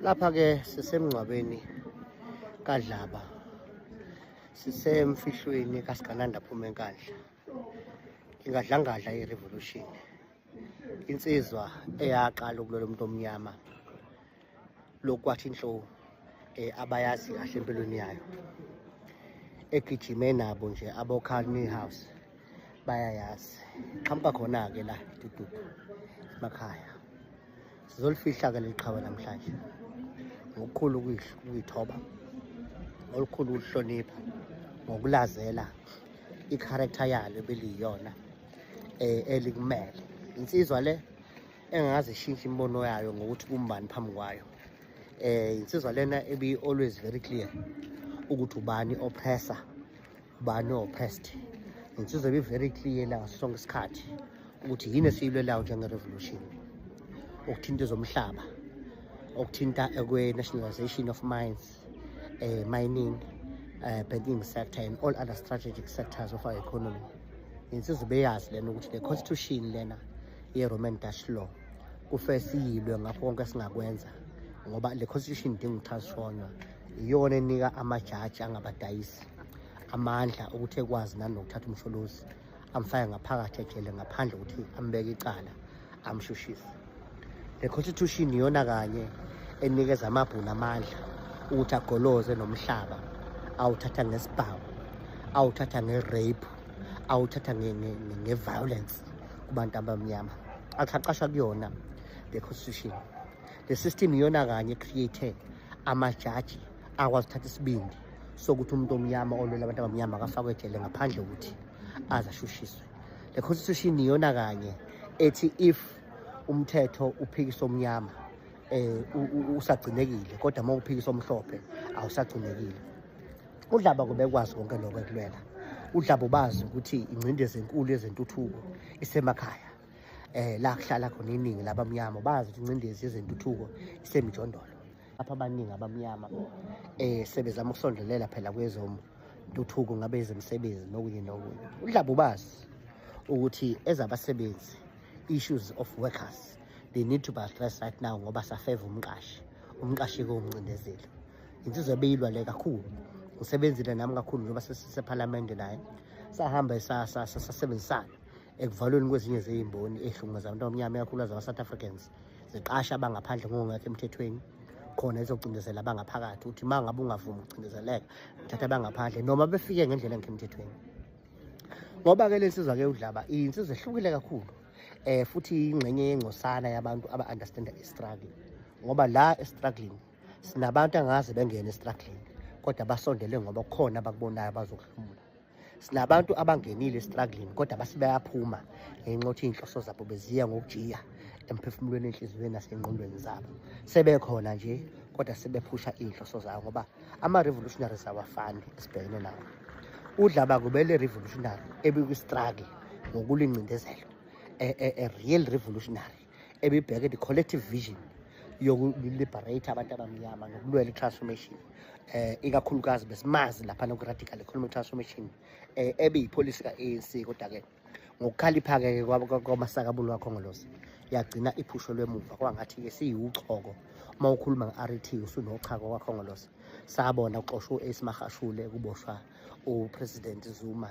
lapha ke sisemngcwabeni kadlaba sisemfihlweni kasigananda phuma enkandla ingadlangadla i-revolution insizwa eyaqala ukulwela umuntu omnyama lokwathi inhlo um eh, abayazi kahle empilweni yayo egijime nabo nje abokhani house bayayazi qhamuka khona-ke la dududu emakhaya sizolifihla-ke leli qhawe namhlanje ngokukhulu ukuyithoba olukhulu ukuhlonipha ngokulazela i-character yalo ebeliyiyona um elikumele insizwa le engaze ishintshe imibono yayo ngokuthi kumbani phambi kwayo um insizwa lena ebi-always very clear ukuthi ubani oppressor ba no past ngizobe be very clear la sonke isikhathi ukuthi yini esiyilwelayo njenge-revolution okuthinta ezomhlaba okuthinta ekwe-nationalization of mines uh, mining uh, banking sector and all other strategic sectors of our economy insizwa beyazi lena ukuthi le constitution lena ye-roman dutch law kufe siyilwe ngakho konke singakwenza ngoba le constitution idinga ukuthasishonywa iyona enika amajaji angabadayisi amandla ukuthi ekwazi nani nokuthatha umsholozi amfake ngaphakathi ejele ngaphandle ukuthi ambeke icala amshushise le constitution iyona kanye enikeza amabhunu amandla ukuthi agoloze nomhlaba awuthatha ngesibhawu awuthatha nge-rape awuthatha nge-violence kubantu abamnyama athaqasha kuyona le constitution le system iyona kanye create amajaji akwazi ukuthatha isibindi sokuthi umuntu omnyama olwela abantu abamnyama akafakwe ejele ngaphandle ukuthi aze ashushiswe le constitution iyona kanye ethi if umthetho uphikisa omnyama eh usagcinekile kodwa uma uphikisa omhlophe awusagcinekile udlaba kubekwazi konke lokho ekulwela udlaba ubazi ukuthi ingcindezi enkulu yezentuthuko isemakhaya eh la kuhlala khona iningi labamnyama bazi ukuthi incindezi yezentuthuko isemijondolo lapha abaningi abamnyama eh sebezama ukusondelela phela kwezomu intuthuko ngabe ezemsebenzi nokunye nokunye udlabu bazi ukuthi ezabasebenzi issues of workers they need to be addressed right now ngoba safeva umqashi umqashi kowumncindezeli insizwa ebeyilwa le kakhulu ngisebenzile nami kakhulu njengoba sesisephalamende naye sahamba sasebenzisana ekuvalweni kwezinye zeyimboni ezihlunguza abantu abamnyama ikakhulukazi ama-south africans ziqasha abangaphandle ngokungekho emthethweni khona ezocindezela abangaphakathi ukuthi uma ngabe ungavumi ukucindezeleka thatha abangaphandle noma befike ngendlela engekho emthethweni ngoba-ke le nsizwa-ke udlaba iyinsizwa ehlukile kakhulu um futhi ingxenye yengcosana yabantu aba-understanda i-struggle ngoba la estruggling sinabantu angaze bengene estruggling kodwa basondele ngoba kukhona abakubonayo abazokuhlomula sinabantu abangenile struggling kodwa basibayaphuma ngenxa yokuthi iy'nhloso zabo beziya ngokujiya emphefumulweni enhliziyweni nasey'nqondweni zabo sebekhona nje kodwa sebephusha iy'nhloso zawo ngoba ama-revolutionaries awafani esibhekene nawo udlaba kubele revolutionary ebikwi-struggle ngokulingcindezelo a, a, a real revolutionary ebibheke the collective vision yokuliberate abantu abamnyama nokulwela i-transformation eh ikakhulukazi besimazi lapha noku-radical economic transformation eh ebiyipolicy ka-anc kodwa-ke ngokukhalipha-ke kwamasakabulu wakho ngolosi yagcina iphusho lwemuva kwangathi-ke siyiwuchoko uma ukhuluma nge-ret usunochako kwakhongolosi sabona kuxoshwa u-ace mahashule kuboshwa upresident zuma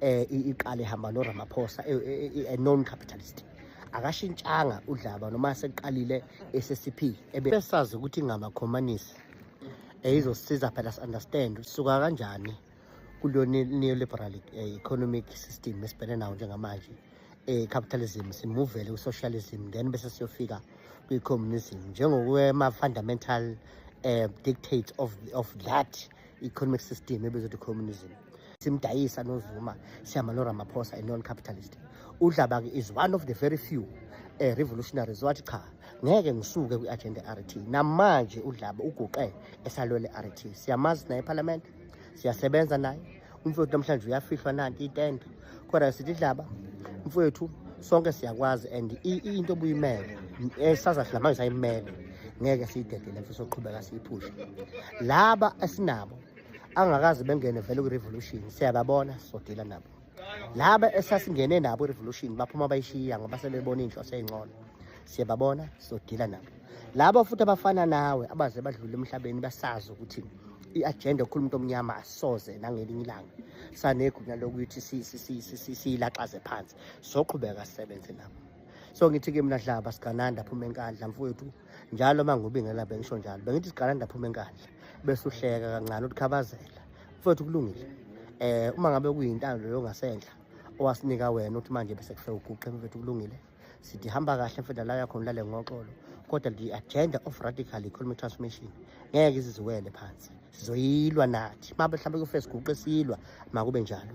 eh iqale ihamba no Ramaphosa eh, eh, eh, a non capitalist akashintshanga udlaba noma seqalile SSP ebesazi ukuthi ngamakhomanisi eyizosiza phela si understand usuka kanjani kulo neoliberal economic system esibhene nawo njengamanje eh capitalism simuvele ku socialism then bese siyofika kwi communism njengokwe ma fundamental eh dictates of of that economic system ebizwa ukuthi communism simdayisa nozuma sihamba noramaphosa a non-capitalist udlaba-ke is one of the very few eh, revolutionaries wathi cha ngeke ngisuke kwi-agenda rt namanje udlaba uguqe esalwele rt siyamazi naye ephalamende siyasebenza naye umfowethu namhlanje uyafihlwa nanti itende kodwa sithi dlaba mfowethu sonke siyakwazi and into obuyimele esaza thina manje sayimele ngeke siyidedele mfo soqhubeka siyiphushe laba esinabo angakazi bengene vele kwi-revolution siyababona sizodila nabo laba esasingene nabo i-revolution baphuma bayishiya ngoba sebebona iy'nhloso ey'ngcono siyababona sizodila nabo laba futhi abafana nawe abaze badlule emhlabeni basazi ukuthi i-agenda yokukhuluma umuntu omnyama asoze nangelinye ilanga sanegunya lokuthi siyilaxaze phansi soqhubeka sisebenze nabo so ngithi-ke mina dlaba sigananda phuma enkandla mfowethu njalo uma ngubingela bengisho njalo bengithi sigananda phuma enkandla bese uhleka kancane utikhabazela mfowethu kulungile um uma ngabe kuyintando leyo ngasenhla owasinika wena ukuthi manje bese kufe uguqe mfowethu kulungile sithi hamba kahle mfethu la yakhona lale ngoxolo kodwa the agenda of radical economic transformation ngeke iziziwele phansi sizoyilwa nathi uma mhlawumbe kufesi guqe silwa makube njalo